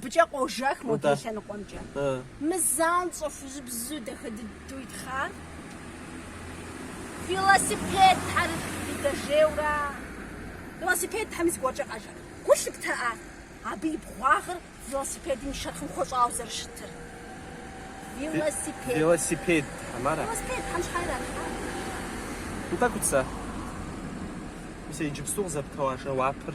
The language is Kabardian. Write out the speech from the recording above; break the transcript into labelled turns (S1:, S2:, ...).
S1: Быкӏэ къожэх мо ди лъэныкъуэмкӏэ. Мы занщӏэ хужьыбзу дахэ дыдэу итхъар велосипедхэр дэжейуэ ара. Велосипедхэми зыгуэркӏэ къэжэ. Гу лъыпта абы и бгъуагъыр велосипедым и шэрхъым хуэщӏауэ зэрыщытыр.
S2: Велосипед. Велосипедхэм ара? Велосипедхэм щхьэ
S1: иралъхьа?
S2: Утӏэкӏут сэ. Мис иджыпсту къызэптэуа жэуапыр.